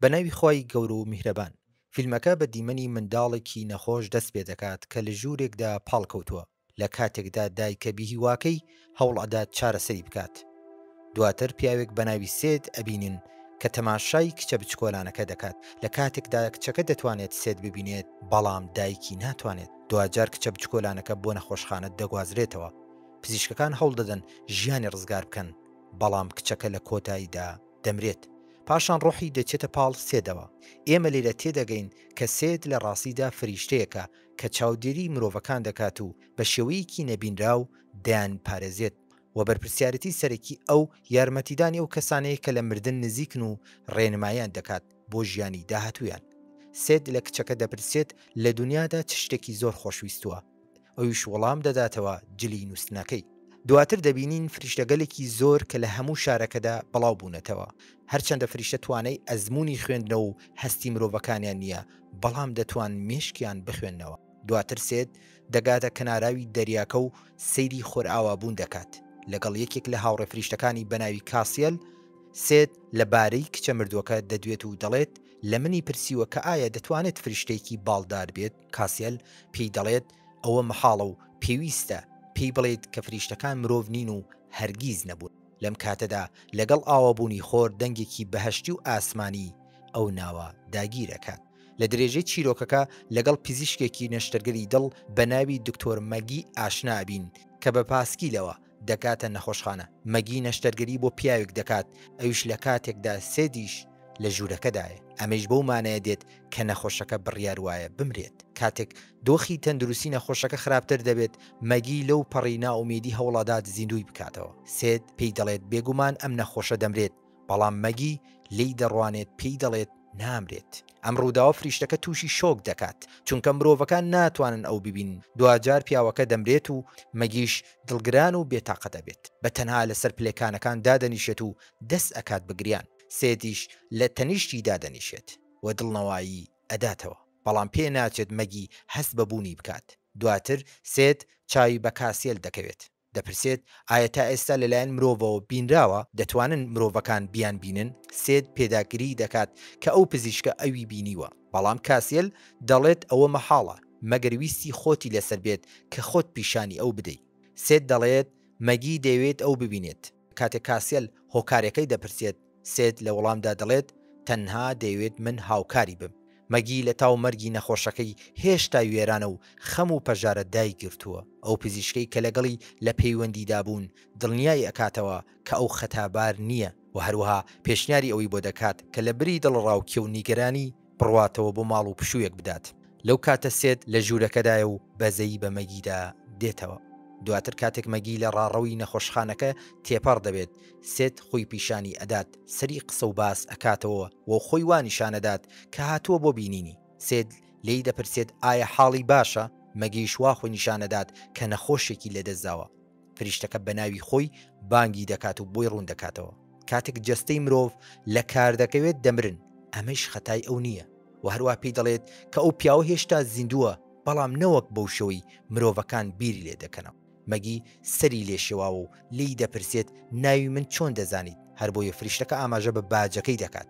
بە ناوی خوای گەورە و میهرەبان. فیلمەکە بە دیمەنی منداڵێکی نەخۆش دەست پێ دەکات کە لە ژوورێکدا پاڵکەوتووە، لە کاتێکدا دایکە بیهیواکەی هەوڵ ئەدات چارەسەری بکات. دواتر پیاوێک بە ناوی سێد ئەبینین کە تەماشای کچە بچکۆلانەکە دەکات، لە کاتێکدا کچەکە دەتوانێت سێد ببینێت، بەڵام دایکی ناتوانێت. دواجار کچە بچکۆلانەکە بۆ نەخۆشخانە دەگوازرێتەوە. پزیشکەکان هەوڵ دەدەن ژیانی ڕزگار بکەن، بەڵام کچەکە لە کۆتاییدا. دەمرێت، پاشان ڕۆحی دەچێتە پاڵ سێدەوە، ئێمە لێرە تێدەگەین کە سێد لە ڕاستیدا فریشتەیەکە کە چاودێری مرۆڤەکان دەکات و بە شێوەیەکی نەبینراو دەیانپارێزێت و بەرپرسیارێتی سەرەکی ئەو یارمەتیدانی ئەو کەسانەیە کە لە مردن نزیکن و ڕێنماییان دەکات بۆ ژیانی داهاتوویان سێد لە کچەکە دەپرسێت لە دونیادا چ شتێکی زۆر خۆشویستووە؟ ئەویش وەڵام دەداتەوە جلی نووستنەکەی. دواتر دەبینین فریشتەگەلێکی زۆر کە لە هەموو شارەکەدا بەڵاو بوونەتەوە. هەرچەندە فریشتە توانای ئەزموونی خوێندنەوە و هەستی مرۆڤەکانیان نییە، بەڵام دەتوان مێشکیان بخوێننەوە. دواتر سێت دەگاتە کەناراوی دەریاکە و سەیری خۆرئاوابوون دەکات. لەگەڵ یەکێک لە هاوڕێ فریشتەکانی بە ناوی کاسیەل، سێت لە بارەی کچە مردووەکە دەدوێت و دەڵێت، لە منی پرسیوە کە ئایا دەتوانێت فریشتەیەکی باڵدار بێت؟ کاسیەل پێی دەڵێت، ئەوە مەحاڵە و پێویستە پێی بڵێیت کە فریشتەکان مرۆڤ نین و هەرگیز نەبوون. لەم کاتەدا لەگەڵ ئاوابوونی خۆر دەنگێکی بەهەشتی و ئاسمانی ئەو ناوە داگیرەکات. لە درێژەی چیرۆکەکە لەگەڵ پزیشکێکی نەشتەرگەری دڵ بە ناوی دکتۆر مەگی ئاشنا ئەبین کە بە پاسکیلەوە، دەگاتە نەخۆشخانە، مەگی نەشتەرگەری بۆ پیاوێک دەکات ئەویش لە کاتێکدا سێدیش لە ژوورەکەدایە، ئەمەیش بەو مانایە دێت کە نەخۆشەکە بڕیار وایە بمرێت، کاتێک دۆخی تەندروستی نەخۆشەکە خراپتر دەبێت، مەگی لەو پەڕی نائومێدی هەوڵئەدات زیندووی بکاتەوە، سێد پێی دەڵێت بێگومان ئەم نەخۆشە دەمرێت، بەڵام مەگی لێی دەڕوانێت پێی دەڵێت نامرێت. ئەم ڕووداوە فریشتەکە تووشی شۆک دەکات، چونکە مرۆڤەکان ناتوانن ئەو ببینن، دواجار پیاوەکە دەمرێت و مەگیش دڵگران و بێتاقەت ئەبێت، بە تەنها لەسەر پلێکانەکان دادەنیشێت و دەست ئەکات بە گریان، سێدیش لە تەنیشتی دادەنیشێت و دڵنەوایی ئەداتەوە، بەڵام پێ ناچێت مەگی هەست بە بوونی بکات، دواتر سێد چاوی بە کاسیێل دەکەوێت. دەپرسێت، ئایا تا ئێستا لەلایەن مرۆڤەوە بینراوە؟ دەتوانن مرۆڤەکان بیانبینن؟ سێد پێداگریی دەکات کە ئەو پزیشکە ئەوی بینیوە، بەڵام کاسیل دەڵێت ئەوە مەحاڵە، مەگەر ویستی خۆتی لەسەر بێت کە خۆت پیشانی ئەو بدەی. سێد دەڵێت، مەگی دەیەوێت ئەو ببینێت؟ کاتێک کاسیەل هۆکارەکەی دەپرسێت، سێد لە وەڵامدا دەڵێت، تەنها دەیەوێت من هاوکاری بم. مەگی لە تاو مەرگی نەخۆشەکەی هێشتا وێرانە و خەم و پەژارە دایگرتووە. ئەو پزیشکەی کە لەگەڵی لە پەیوەندیدا بوون دڵنیای ئەکاتەوە کە ئەو خەتابار نییە و هەروەها پێشنیاری ئەوەی بۆ دەکات کە لە بری دڵەڕاوکێ و نیگەرانی، بڕواتەوە بۆ ماڵ و پشوویەک بدات. لەو کاتە سێد لە ژوورەکەدایە و بەزەیی بە مەگیدا دێتەوە. دواتر کاتێک مەگی لە ڕاڕەوی نەخۆشخانەکە تێپەڕ دەبێت، سێد خۆی پیشانی ئەدات، سەری قسە و باس ئەکاتەوە و خۆی وا نیشان ئەدات کە هاتووە بۆ بینینی. سێد لێی دەپرسێت ئایا حاڵی باشە؟ مەگیش وا خۆی نیشان ئەدات کە نەخۆشێکی لەدەست داوە. فریشتەکە بەناوی خۆی بانگی دەکات و بۆی ڕووندەکاتەوە کاتێک جەستەی مرۆڤ لە کاردەکەوێت دەمرن ئەمەیش خەتای ئەو نییە و هەروە پێی دەڵێت کە ئەو پیاوە هێشتا زیندووە بەڵام نەوەک بەو شەوەی مرۆڤەکان بیری لێ دەکەنەوە. مەگی سەری لێ شێواوە و لێی دەپرسێت ناوی من چۆن دەزانیت هەربۆیە فریشتەکە ئاماژە بە باجەکەی دەکات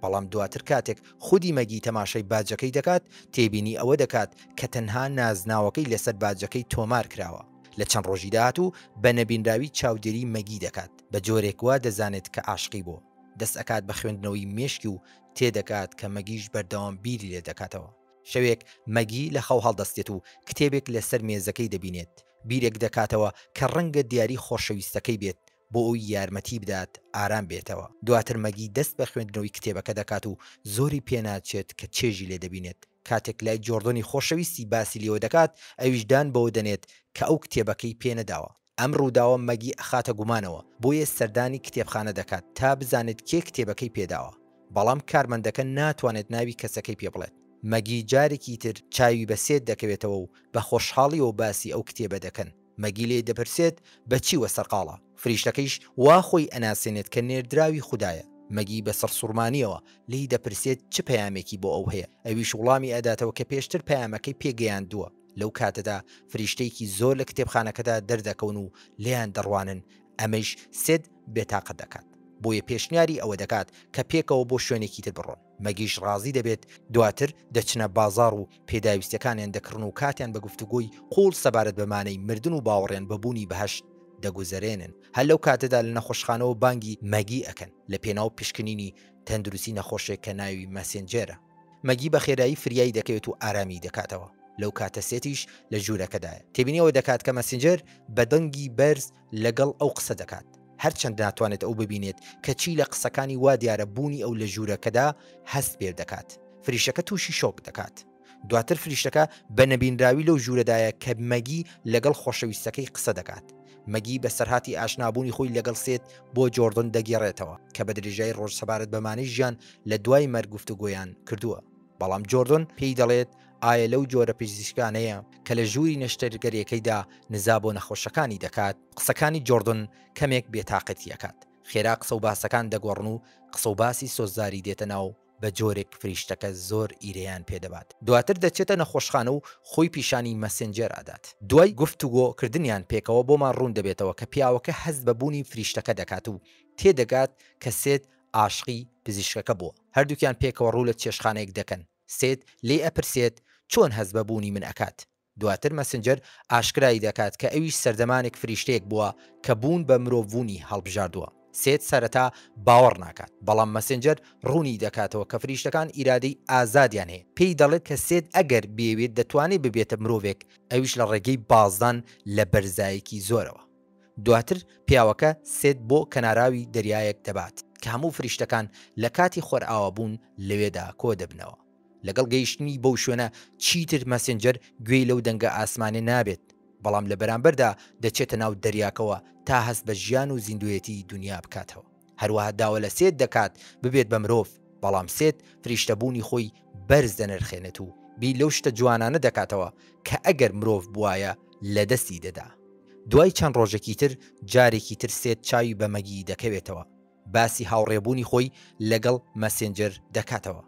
بەڵام دواتر کاتێک خودی مەگی تەماشای باجەکەی دەکات تێبینی ئەوە دەکات کە تەنها نازناوەکەی لەسەر باجەکەی تۆمار کراوە لە چەند ڕۆژی داهاتوو بە نەبینراوی چاودێری مەگی دەکات بە جۆرێک وا دەزانێت کە ئاشقی بۆ دەست ئەکات بە خوێندنەوەی مێشکی و تێدەگات کە مەگیش بەردەوام بیری لێ دەکاتەوە. شەوێک مەگی لە خەو هەڵدەستێت و کتێبێک لە سەر مێزەکەی دەبینێت بیرێک دەکاتەوە کە ڕەنگە دیاری خۆشەویستەکەی بێت بۆ ئەوی یارمەتی بدات ئارام بێتەوە دواتر مەگی دەست بە خوێندنەوەی کتێبەکە دەکات و زۆری پێ ناچێت کە چێژی لێ دەبینێت کاتێک لای جۆڕدۆنی خۆشەویستی باسی لێوە دەکات، ئەویش دان بەوە دەنێت کە ئەو کتێبەکەی پێ نەداوە. ئەم ڕووداوە مەگی ئەخاتە گومانەوە، بۆیە سەردانی کتێبخانە دەکات تا بزانێت کێ کتێبەکەی پێ داوە. بەڵام کارمەندەکە ناتوانێت ناوی کەسەکەی پێ بڵێت. مەگی جارێکی تر چاوی بە سێت دەکەوێتەوە و بە خۆشحاڵییەوە باسی ئەو کتێبە دەکەن. مەگی لێی دەپرسێت بە چی وە سەرقاڵە؟ فریشتەکەیش وا خۆی ئەناسێنێت کە نێردراوی خودایە، مەگی بە سەڕسوڕمانییەوە لێی دەپرسێت چ پەیامێکی بۆ ئەو هەیە، ئەویش وڵامی ئەداتەوە کە پێشتر پەیامەکەی پێ گەیاندووە، لەو کاتەدا فریشتەیەکی زۆر لە کتێبخانەکەدا دەردەکەون و لێیان دەڕوانن، ئەمەیش سێد بێتاقەت دەکات، بۆیە پێشنیاری ئەوە دەکات کە پێکەوە بۆ شوێنێکی تر بڕۆن. مەگیش ڕازی دەبێت، دواتر دەچنە بازاڕ و پێداویستیەکانیان دەکڕن و کاتیان بە گفتوگۆی قوڵ سەبارەت بە مانای مردن و باوەڕیان بە بوونی بەهەشت دەگوزەرێنن، هەر لەو کاتەدا لە نەخۆشخانەوە بانگی مەگی ئەکەن لە پێناو پشکنینی تەندروستی نەخۆشێک کە ناوی مەسێنجێرە. مەگی بە خێرایی فریای دەکەوێت و ئارامی دەکاتەوە، لەو کاتە سێتیش لە ژوورەکەدایە تێبینی ئەوە دەکات کە مەسێنجێر بە دەنگی بەرز لەگەڵ ئەو قسە دەکات، هەرچەند ناتوانێت ئەو ببینێت، کەچی لە قسەکانی وا دیارە بوونی ئەو لە ژوورەکەدا هەست پێ دەکات. فریشتەکە تووشی شۆک دەکات. دواتر فریشتەکە بە نەبینراوی لەو ژوورەدایە کە مەگی لەگەڵ خۆشەویستەکەی قسە دەکات. مەگی بەسەرهاتی ئاشنابوونی خۆی لەگەڵ سێت بۆ جۆردن دەگێڕێتەوە، کە بە درێژایی ڕۆژ سەبارەت بە مانای ژیان لە دوای مەرگ گفتوگۆیان کردووە. بەڵام جۆردۆن پێی دەڵێت، ئایا لەو جۆرە پزیشکانەیە کە لە ژووری نەشتەرگەریەکەیدا نزا بۆ نەخۆشەکانی دەکات؟ قسەکانی جۆردۆن کەمێک بێتاقەتی ئەکات، خێرا قسە و باسەکان دەگۆڕن و قسە و باسی سۆزداری دێتە ناو بە جۆرێک فریشتەکە زۆر ئیرەیان پێ دەبات، دواتر دەچێتە نەخۆشخانە و خۆی پیشانی مەسێنجێر ئەدات، دوای گفتوگۆ کردنیان پێکەوە بۆمان ڕوون دەبێتەوە کە پیاوەکە هەست بە بوونی فریشتەکە دەکات و تێدەگات کە سێت ئاشقی پزیشکەکە بووە. هەردووکیان پێکەوە ڕوو لە چێشتخانەیەک دەکەن. سێت لێی ئەپرسێت چۆن هەست بە بوونی من ئەکات؟ دواتر مەسنجەر ئاشکرای دەکات کە ئەویش سەردەمانێک فریشتەیەک بووە کە بوون بە مرۆڤبوونی هەڵبژاردووە. سێت سەرەتا باوەڕ ناکات، بەڵام مەسنجەر ڕوونی دەکاتەوە کە فریشتەکان ئیرادەی ئازادیان هەیە. پێی دەڵێت کە سێت ئەگەر بیەوێت دەتوانێت ببێتە مرۆڤێک، ئەویش لە ڕێگەی بازدان لە بەرزایەکی زۆرەوە. دواتر پیاوەکە سێت بۆ کەناراوی دەریایەک دەبات کە هەموو فریشتەکان لە کاتی خۆرئاوابوون لەوێدا کۆدەبنەوە. لەگەڵ گەیشتنی بەو شوێنە چیتر مەسێنجەر گوێی لەو دەنگە ئاسمانیە نابێت، بەڵام لە بەرامبەردا دەچێتە ناو دەریاکەوە تا هەست بە ژیان و زیندوێتی دونیا بکاتەوە. هەروەها داوا لە سێت دەکات ببێت بە مرۆڤ، بەڵام سێت فریشتەبوونی خۆی بەرز دەنرخێنێت و بیر لەو شتە جوانانە دەکاتەوە کە ئەگەر مرۆڤ بوایە لەدەستی دەدا. دوای چەند ڕۆژێکی تر، جارێکی تر سێت چاوی بە مەگی دەکەوێتەوە، باسی هاوڕێبوونی خۆی لەگەڵ مەسێنجەر دەکاتەوە،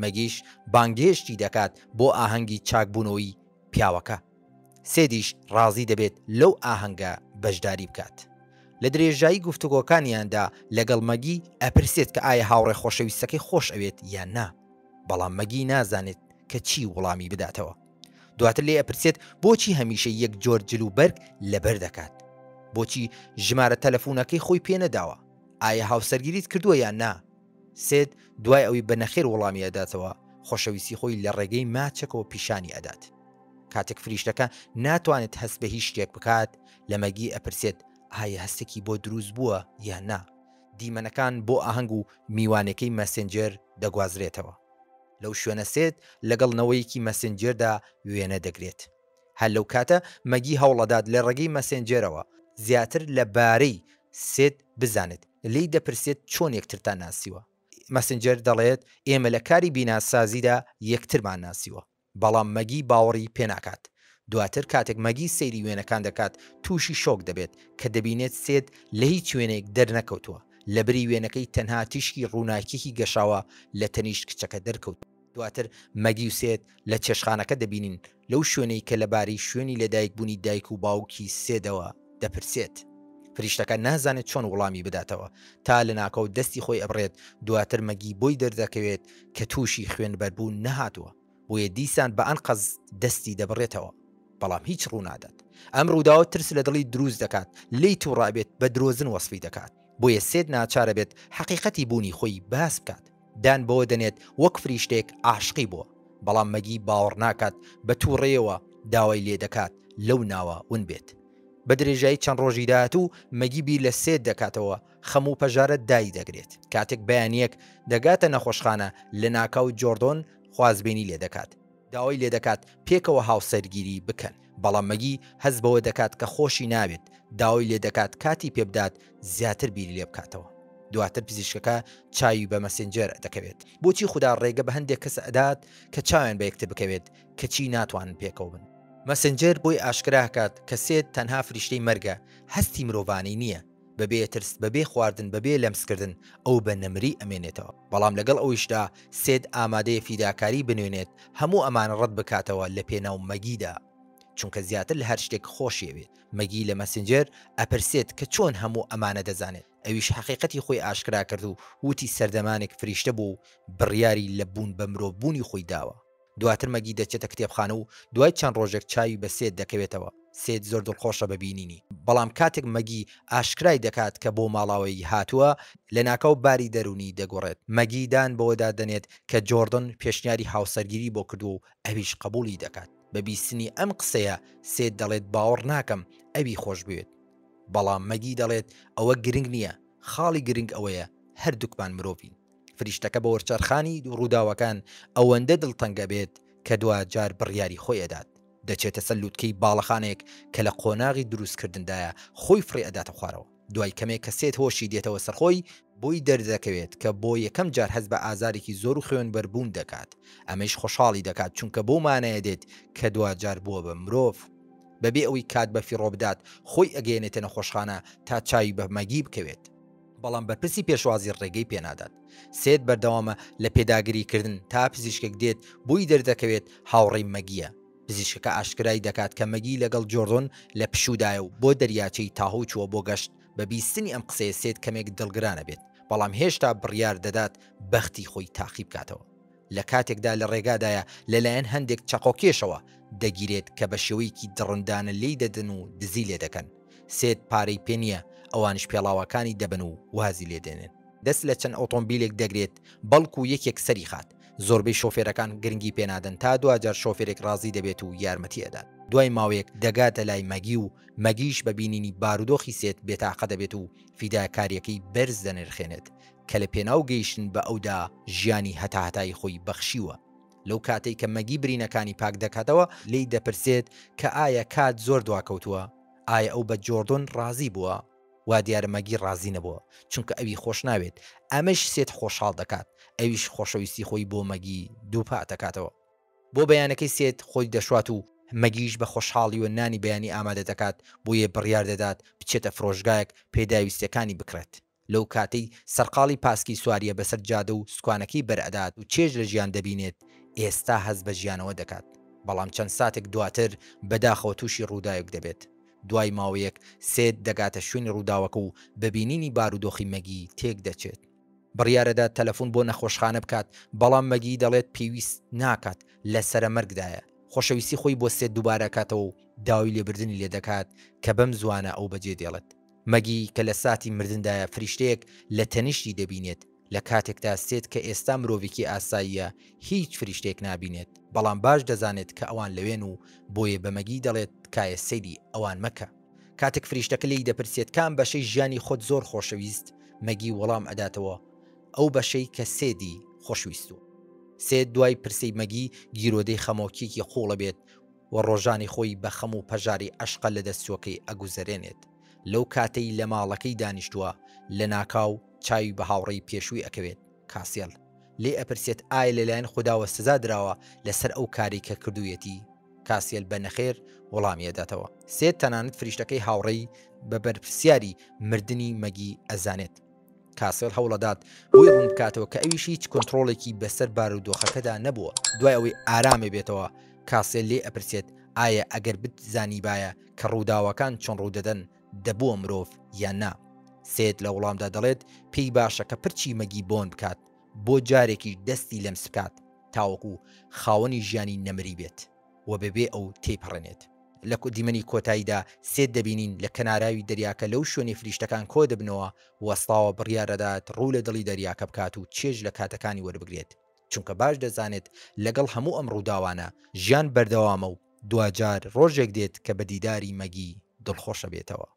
مەگیش بانگهێشتی دەکات بۆ ئاهەنگی چاکبوونەوەی پیاوەکە. سێدیش ڕازی دەبێت لەو ئاهەنگە بەشداری بکات. لە درێژایی گفتوگۆکانیاندا لەگەڵ مەگی ئەپرسێت کە ئایا هاوڕێ خۆشەویستەکەی خۆش ئەوێت یان نا، بەڵام مەگی نازانێت کە چی وڵامی بداتەوە. دواتر لێ ئەپرسێت بۆچی هەمیشە یەک جۆر جل و بەرگ لەبەر دەکات؟ بۆچی ژمارە تەلەفونەکەی خۆی پێ نەداوە؟ ئایا هاوسەرگیریت کردووە یان نا؟ سێد دوای ئەوی بە نەخێر وەڵامی ئەداتەوە، خۆشەویستی خۆی لە ڕێگەی ماچەکەوە پیشانی ئەدات. کاتێک فریشتەکە ناتوانێت هەست بە هیچ شتێک بکات، لە مەگی ئەپرسێت ئایا هەستێکی بۆ دروست بووە یان نا. دیمەنەکان بۆ ئاهەنگ و میوانێکەی مەسێنجێر دەگوازرێتەوە. لەو شوێنە سێد لەگەڵ نەوەیەکی مەسێنجێردا وێنە دەگرێت. هەر لەو کاتە مەگی هەوڵئەدات لە ڕێگەی مەسێنجێرەوە زیاتر لە بارەی سێد بزانێت. لێی دەپرسێت چۆن یەکترتان ناسیوە؟ مەسنجەر دەڵێت ئێمە لە کاری بیناسازیدا یەکترمان ناسیوە، بەڵام مەگی باوەڕی پێناکات. دواتر کاتێک مەگی سەیری وێنەکان دەکات تووشی شۆک دەبێت کە دەبینێت سێد لە هیچ وێنەیەک دەرنەکەوتووە، لەبری وێنەکەی تەنها تیشکی ڕووناکییەکی گەشاوە لە تەنیشت کچەکە دەرکەوتووە. دواتر مەگی و سێد لە چێشتخانەکە دەبینین، لەو شوێنەی کە لەبارەی شوێنی لەدایکبوونی دایک و باوکی سێدەوە دەپرسێت. فریشتەکە نازانێت چۆن وڵامی بداتەوە، تا لەناکاو دەستی خۆی ئەبڕێت، دواتر مەگی بۆی دەردەکەوێت کە تووشی خوێنبەربوون نەهاتووە، بۆیە دیسان بە ئەنقەست دەستی دەبڕێتەوە، بەڵام هیچ ڕوونادات. ئەم ڕووداوە ترس لە دڵی دروست دەکات، لێی توڕەئەبێت، بە درۆزن وەسفی دەکات، بۆیە سێد ناچارئەبێت حەقیقەتی بوونی خۆی باس بکات. دان بەوە دەنێت وەک فریشتەیەک عاشقی بووە، بەڵام مەگی باوەڕ ناکات بە تووڕەیەوە داوای لێ دەکات لەو ناوە ون بێت. بە درێژایی چەند ڕۆژی داهاتوو مەگی بیر لە سێد دەکاتەوە، خەم و پەژارە دای دەگرێت. کاتێک بەیانییەک دەگاتە نەخۆشخانە، لەناکاو جۆردۆن خوازبێنی لێ دەکات. داوای لێدەکات پێکەوە هاوسەرگیری بکەن، بەڵام مەگی هەست بەوە دەکات کە خۆشی ناوێت، داوای لێدەکات کاتی پێبدات زیاتر بیری لێبکاتەوە. دواتر پزیشکەکە چاوی بە مەسێنجێر دەکەوێت. بۆچی خودا ڕێگە بە هەندێک کەس ئەدات کە چاویان بە یەکتر بکەوێت کەچی ناتوانن پێکەوە بن؟ مەسێنجێر بۆی ئاشکرا ئەکات کە سێت تەنها فریشتەی مەرگە، هەستی مرۆڤانەی نییە، بەبێ ترس، بەبێ خواردن، بەبێ لەمسکردن ئەو بە نەمری ئەمێنێتەوە. بەڵام لەگەڵ ئەویشدا سێد ئامادەیە فیداکاری بنوێنێت هەموو ئەمانە ڕەت بکاتەوە لە پێناو مەگیدا چونکە زیاتر لە هەر شتێک خۆشیەوێت مەگی لە مەسنجەر ئەپرسێت کە چۆن هەموو ئەمانە دەزانێت ئەویش حەقیقەتی خۆی ئاشکرا کرد و وتی سەردەمانێک فریشتە بووە و بڕیاری لە بوون بە مرۆڤ بوونی خۆی داوە. دواتر مەگی دەچێتە کتێبخانە و دوای چەند ڕۆژێک چاوی بە سێد دەکەوێتەوە، سێد زۆر دڵخۆشە بە بینینی، بەڵام کاتێک مەگی ئاشکرای دەکات کە بۆ ماڵاوایی هاتووە، لەناکاو باری دەروونی دەگۆڕێت، مەگی دان بەوەدا دەنێت کە جۆردن پێشنیاری هاوسەرگیری بۆ کردووە و ئەویش قبوڵی دەکات، بە بیستنی ئەم قسەیە سێد دەڵێت باوەڕ ناکەم ئەوی خۆشبوێت، بەڵام مەگی دەڵێت ئەوە گرنگ نییە، خاڵی گرنگ ئەوەیە هەردووکمان مرۆڤین. فریشتەکە بە وەرچەرخانی ڕووداوەکان ئەوەندە دڵتەنگ ئەبێت کە دواجار بڕیاری خۆی ئەدات، دەچێتە سەر لوتکەی باڵەخانێک کە لە قۆناغی دروستکردندایە خۆی فڕێ ئەداتە خوارەوە، دوای کەمێک کە سێت هۆشی دێتەوە سەرخۆی، بۆی دەردەکەوێت کە بۆ یەکەم جار هەست بە ئازارێکی زۆر و خوێنبەربوون دەکات، ئەمەیش خۆشحاڵی دەکات چونکە بەو مانایە دێت کە دواجار بووە بە مرۆڤ، بەبێ ئەوەی کات بەفیڕۆ بدات خۆی ئەگەیەنێتە نەخۆشخانە تا چاوی بە مەگی بکەوێت. بەڵام بەرپرسی پێشوازی ڕێگەی پێنادات. سێت بەردەوامە لە پێداگریکردن تا پزیشکێک دێت بۆی دەردەکەوێت هاوڕێی مەگییە. پزیشکەکە ئاشکرای دەکات کە مەگی لەگەڵ جۆردن لە پشوودایە و بۆ دەریاچەی تاهۆو چووە بۆ گەشت، بە بیستنی ئەم قسەیە سێت کەمێک دڵگران ئەبێت، بەڵام هێشتا بڕیار دەدات بەختی خۆی تاقی بکاتەوە. لە کاتێکدا لە ڕێگادایە لەلایەن هەندێک چەقۆکێشەوە دەگیرێت کە بە شێوەیەکی دڕندانە لێی دەدەن و دزی لێ دەکەن، سێد پارەی پێ نییە، ئەوانیش پێڵاوەکانی دەبن و وازی لێ دێنن. دەست لە چەند ئۆتۆمبیلێک دەگرێت بەڵکو یەکێک سەری خات، زۆربەی شۆفێرەکان گرنگی پێ نادەن تا دواجار شۆفێرێک ڕازی دەبێت و یارمەتی ئەدات، دوای ماوەیەک دەگاتە لای مەگی و مەگیش بە بینینی بارودۆخی سێد بێتاقە دەبێت و فیداکاریەکەی بەرز دەنرخێنێت کە لە پێناو گەیشتن بە ئەودا ژیانی هەتاهەتایی خۆی بەخشیوە، لەو کاتەی کە مەگی برینەکانی پاک دەکاتەوە لێی دەپرسێت کە ئایا کات زۆر دواکەوتووە؟ ئایا ئەو بە جۆردۆن ڕازی بووە؟ وا دیارە مەگی ڕازی نەبووە چونکە ئەوی خۆش ناوێت، ئەمەش سێت خۆشحاڵ دەکات ئەویش خۆشەویستی خۆی بۆ مەگی دووپاتەکاتەوە. بۆ بەیانەکەی سێت خۆی دەشوات و مەگیش بە خۆشحاڵیوە نانی بەیانی ئامادە دەکات بۆیێ بڕیار دەدات بچێتە فرۆشگایەک پێداویستیەکانی بکڕێت لەو کاتەی سەرقاڵی پاسکی سواریە بەسەر جادە و سکوانەکەی بەر ئەدات و چێژ لە ژیان دەبینێت ئێستا هەست بە ژیانەوە دەکات بەڵام چەند ساتێک دواتر بەداخەوە توشی ڕوداوێک دەبێت دوای ماوەیەک سێت دەگاتە شوێنی ڕوداوەکە و بە بینینی بارودۆخی مەگی تێک دەچێت. بڕیارەدات تەلەفون بۆ نەخۆشخانە بکات، بەڵام مەگی دەڵێت پێویست ناکات، لە سەرە مەرگدایە، خۆشەویستی خۆی بۆ سێت دووبارە ئەکاتەوە و داوای لێبردنی لێ دەکات کە بەم زوانە ئەو بەجێ دێڵێت. مەگی کە لە ساتی مردندایە فریشتەیەک لە تەنیشتی دەبینێت، لە کاتێکدا سێت کە ئێستا مرۆڤێکی ئاساییە هیچ فریشتەیەک نابینێت، بەڵام باش دەزانێت کە ئەوان لەوێن و بۆیە بە مەگی دەڵێت تکایە سەیری ئەوان مەکە. کاتێک فریشتەکە لێی دەپرسێت کام بەشەی ژیانی خۆت زۆر خۆشەویست مەگی وەڵام ئەداتەوە ئەو بەشەی کە سێدی خۆشویستوە. سێد دوای پرسەی مەگی گیرۆدەی خەمۆکیەکی قوڵەبێت و ڕۆژانی خۆی بە خەم و پەژارەی عەشقە لەدەستچوەکەی ئەگوزەرێنێت لەو کاتەی لە ماڵەکەی دانیشتوە لەناکاو چاوی بە هاوڕێی پێشوی ئەکەوێت کاسێل، لێی ئەپرسێت، ئایا لەلایەن خوداوە سزا دراوە لەسەر ئەو کارەی کە کردوویەتی؟ کاسێل بە نەخێر وەڵامی ئەداتەوە. سێد تەنانەت فریشتەکەی هاوڕێی بە بەرپرسیاری مردنی مەگی ئەزانێت. کاسێل هەوڵئەدات بۆی ڕوون بکاتەوە کە ئەویش هیچ کۆنتڕۆڵێکی بەسەر بارودۆخەکەدا نەبووە. دوای ئەوەی ئارامئەبێتەوە، کاسێل لێی ئەپرسێت، ئایا ئەگەر بتزانیبایە کە ڕووداوەکان چۆن ڕوودەدەن، دەبووە مرۆڤ یان نا؟ سێد لە وڵامدا دەڵێت، پێی باشە کە پرچی مەگی بۆن بکات، بۆ جارێکیش دەستی لەمس بکات، تاوەکو خاوەنی ژیانی نەمری بێت و بەبێ ئەو تێیپەڕێنێت. لە دیمەنی کۆتاییدا، سێد دەبینین لە کەناراوی دەریاکە لەو شوێنەی فریشتەکان کۆدەبنەوە وەستاوە، بڕیاردەدات ڕوو لە دڵی دەریاکە بکات و چێژ لە کاتەکانی وەربگرێت. چونکە باش دەزانێت لەگەڵ هەموو ئەم ڕووداوانە ژیان بەردەوامە و دواجار ڕۆژێک دێت کە بە دیداری مەگی دڵخۆش ئەبێتەوە.